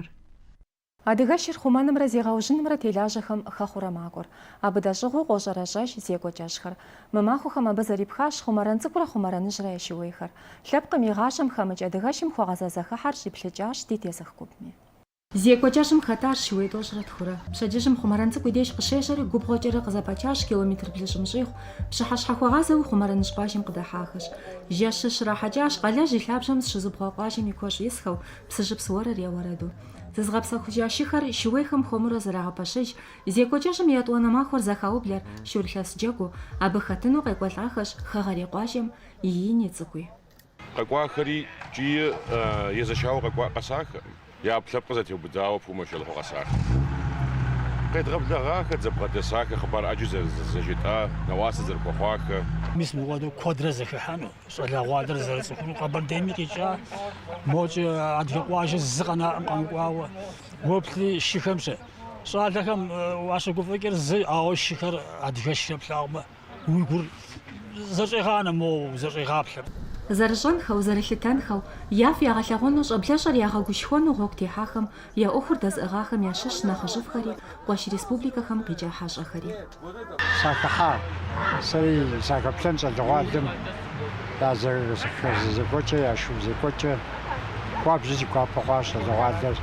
къыщыхъуар. Адыгэшыр хъумэнымрэ зегъэужьынымрэ телажьэхэм хэхъурэ макӏуэр. Абы дэщӏыгъуу къощӏэрэщӏэж зекӏуэ кӏэщӏхэр. Мы махуэхэм абы зэрипхащ Хъумэрэн Цӏыкӏурэ Хъумэрэныжьрэ я шууейхэр. Лъэпкъым и гъащӏэм хэмыкӏ адыгэшым хуэгъэза зэхыхьэр щӏиплъыкӏащ ди тезых гупми. Зекӏуэ кӏэщӏым хэтащ шууей тӏощӏрэ тхурэ. Пщэдджыжьым Хъумэрэн Цӏыкӏу и деж къыщежьэри, губгъуэкӏэрэ къызэпачащ километр блыщӏым щӏигъу. Пщыхьэщхьэ хуэгъазэуи Хъумэрэныжь къуажэм къыдыхьахэщ. Жэщыр щрахьэкӏащ, Къалэжь и лъабжьэм зыщызыубгъуа къуажэм и куэщӏ исхэу, Псыжьыпс уэрыр я уэрэду. Зызгъэпсэхужа шыхэр шууейхэм хуэмурэ зэрагъэпэщыж, зекӏуэ кӏэщӏым и етӏуанэ махуэр зэхаублэр шурылъэс джэгуу, абы хэтыну къекӏуэлӏахэщ хэгъэрей къуажэм и ини цӏыкӏуи. Къэкӏуахэри ткӏийи езэшауэ къэкӏуа къэсахэ, я ӏэпкълъэпкъыр зэтеубыдауэ пумэ щолэхьу къэсахэ. Къедгъэблэгъахэ, дызэбгъэдэсахэ, хъыбар ӏэджи зэжетӏа, нэӏуасэ зэрыхуэхъуахэ. Мис мыхуэдэу куэдрэ зэхыхьэну. Щӏалэгъуалэр зэрыцӏыхуну Къэбэрдейми къикӏа, мокӏэ адыгэ къуажэ зы къэнаӏэм къэмыкӏуауэ, уэплъри шыхэмщэ. Щӏалэхэм уащыгуфӏыкӏыр зы, ауэ шыхэр адыгэшхэ плъагъумэ, уи гур зэщӏегъанэ, моуэ узэщӏегъаплъэ. Зэрыщӏэнхэу, зэрылъытэнхэу, яфӏ ягъэлъэгъуэну, щӏэблэщӏэр ягъэгушхуэну гъуэгу техьахэм Я ӏуэхур дэзыӏыгъахэм ящыщщ нэхъыжьыфӏхэри, къуэш республикэхэм къикӏа хьэщӏэхэри. Сахыхьа, сэри сахэплъэн щӏалэгъуалэм я зэхэзекӏуэкӏэ, я шу зекӏуэкӏэ. Хуабжьу си гуапэ хъуащ щӏалэгъуалэр.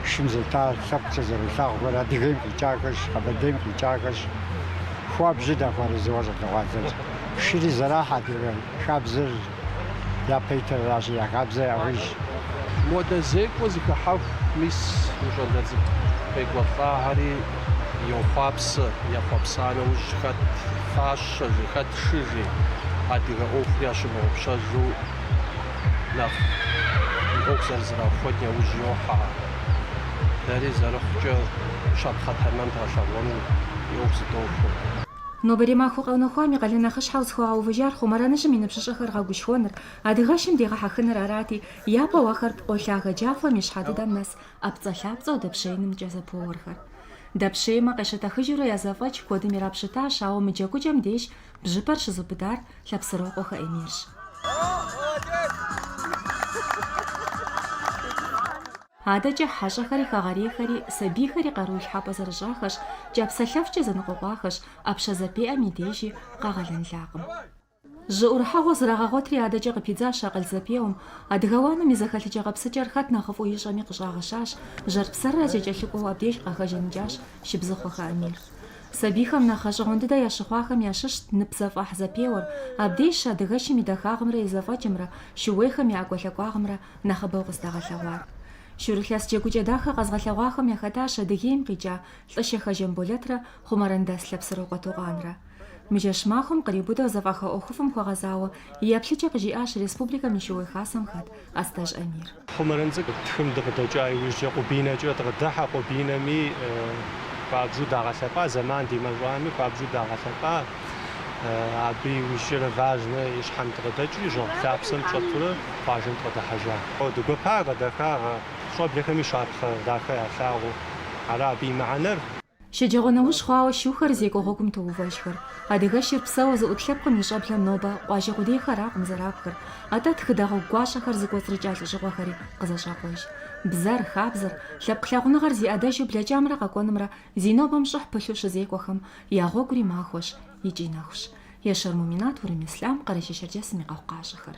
Шым зета лъэпкъкӏэ зэрылъагъухэр Адыгейм къикӏахэщ, Къэбэрдейм къикӏахэщ. Хуабжьу дахуэарэзыуэ щӏалэгъуалэр. Шыри зэрахь адыгэ хабзэр. япэ итыр аращи, я хабзэ яужь. Модэ зекӏуэ зыхыхьэху мис мы щӏалэ цӏыкӏу къекӏуэлӏахэри йохъуапсэ, ехъуэпса нэужь хэт фащэжи, хэт шыжи, адыгэ ӏуэхур ящымыгъупщэжу нэхъ и ӏуэху зэрызэрахуэн яужь йохьэ. Дэри зэрыхъукӏэ щапхъэ тэмэм дгъэлъэгъуэну и ӏуэху зыдохуэ. Нобэрей махуэ къэунэхуам и къалэн нэхъыщхьэу зыхуагъэувыжар Хъумэрэныжьым и ныбжьыщӏэхэр гъэгушхуэныр, адыгэшым дегъэхьэхыныр арати, япэу ахэр пкъо лъагэ джафэм и щхьэ дыдэм нэс ӏэпцӏэлъапцӏэу дэпщеинымкӏэ зэпоуэрхэр. Дэпщеймэ, къещэтэхыжурэ я зэфӏэкӏ куэдым ирапщытащ, ауэ мы джэгукӏэм деж бжьыпэр щызыубыдар Лъэпсырокъуэхэ Эмирщ. Адэкӏэ хьэщӏэхэри хэгъэрейхэри сабийхэри къару илъхьэпӏэ зэрыщӏахэщ, кӏапсэлъэфкӏэ зэныкъуэкъуахэщ, ӏэпщэ зэпеӏэм и дежи къагъэлэнлакъым. Жьы ӏурыхьэгъуэ зрагъэгъуэтри адэкӏэ къыпидзащ акъыл зэпеуэм. Адыгэ уанэм и зэхэлъыкӏэ гъэпсыкӏэр хэт нэхъыфӏу ищӏэми къыщӏагъэщащ, жьэр псэррэ зэкӏэлъыкӏуэу абдеж къахэжаныкӏащ Шыбзыхъуэхэ Эмир. Сабийхэм нэхъ гъэщӏэгъуэн дыдэ ящыхъуахэм ящыщт ныпзэфӏэхь зэпеуэр, абдежщ адыгэшым и дахагъымрэ и зэфӏэкӏымрэ, шууейхэм я ӏэкӏуэлъакӏуагъымрэ Нэхъыбэу къыздагъэлъэгъуар. Шурылъэс джэгукӏэ дахэ къэзгъэлъэгъуахэм яхэтащ Адыгейм къикӏа Лӏыщэхэ Жамболэтрэ Хъумэрэн дэс Лъэпсырокъуэ Токъанрэ. Мы жэщ махуэм къриубыдэу зэфӏаха ӏуэхуфӏым хуэгъэзауэ и еплъыкӏэ къыжиӏащ республикэм и Шыуей Хасэм хэт Астэжь Амир. Хъумэрэн цӏыкӏу тхым дыкъыдэкӏа иужькӏэ Къубинэкӏэ дыкъыдыхьэ, Къубинэми хуабжыу дагъэлъэпӏа, зэман димэщӏами хуабжыу дагъэлъэпӏа. Абы иужькӏэрэ Важнэ и щхьэм дыкъыдэкӏри, жьэгъу лъапсэм дыщӏэтурэ къуажэм дыкъыдыхьэжа. Ди гуэпакъэ, дахагъэ, щӏэблэхэми щапхъэ дахэ ялъагъуу. Ара абы и мыхьэнэр? Щэджэгъуэ нэужь хъуауэ шухэр зекӏуэ гъуэгум тоувэжхэр. Адыгэшыр псэуэ зыӏут лъэпкъым и щӏэблэм нобэ къуажэ къудейхэракъым зэрапхыр, атӏэ тхыдэ гъуэгу гуащӏэхэр зыкӏуэцӏрыкӏа лӏэщӏыгъуэхэри къызэщӏакъуэж. Бзэр, хабзэр, лъэпкъ лъагъуныгъэр зи ӏэдэжу блэкӏамрэ къэкӏуэнымрэ Зи нобэм щӏыхь пылъу щызекӏуэхэм я гъуэгури махуэщ икӏи нэхущ. Ещэр Муминат, Урым Ислъам, Къэрэшей-Шэрджэсым и къэхъукъащӏэхэр.